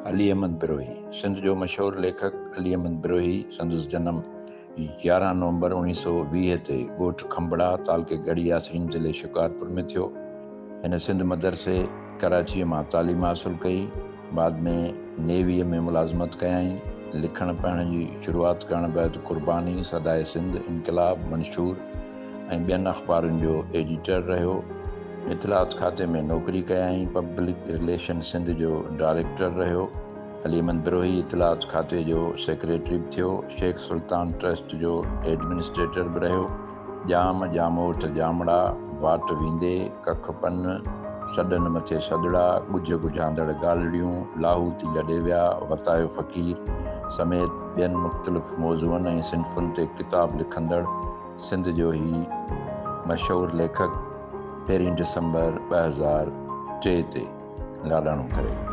علي احمد بروهي، سنڌ جو مشهور ليکڪ علي احمد بروهي، سندس جنم يارهن نومبر اوڻيهه سؤ ويهه تي ڳوٺ کنڀڙا، تعلقي ڳڙهي ياسين، ضلعي شڪارپور ۾ ٿيو. هن سنڌ مدرسي ڪراچيء مان تعليم حاصل ڪئي. بعد ۾ نيويء ۾ ملازمت ڪيائين. لکڻ پڙهڻ جي شروعات ڪرڻ بعد قرباني، صدائي سنڌ، انقلاب، منشور ۽ ٻين اخبارن جو ايڊيٽر رهيو. اطلاعات کاتي ۾ نوڪري ڪيائين. پبلڪ رليشن سنڌ جو ڊائريڪٽر رهيو. علي احمد بروهي اطلاعات کاتي جو سيڪريٽري به ٿيو. شيخ سلطان ٽرسٽ جو ايڊمنسٽريٽر به رهيو. ڄام ڄاموٽ ڄامڙا، واٽ ويندي ڪک پن، سڏن مٿي سڏڙا، ڳجهه ڳجهاندڙ ڳالهڙيون، لاهوتي لڏي ويا، وتايو فقير سميت ٻين مختلف موضوعن ۽ صنفن تي ڪتاب لکندڙ سنڌ جو هي مشهور ليکڪ پهرين ڊسمبر ٻه هزار ٽي تي لاڏاڻو ڪري ويو.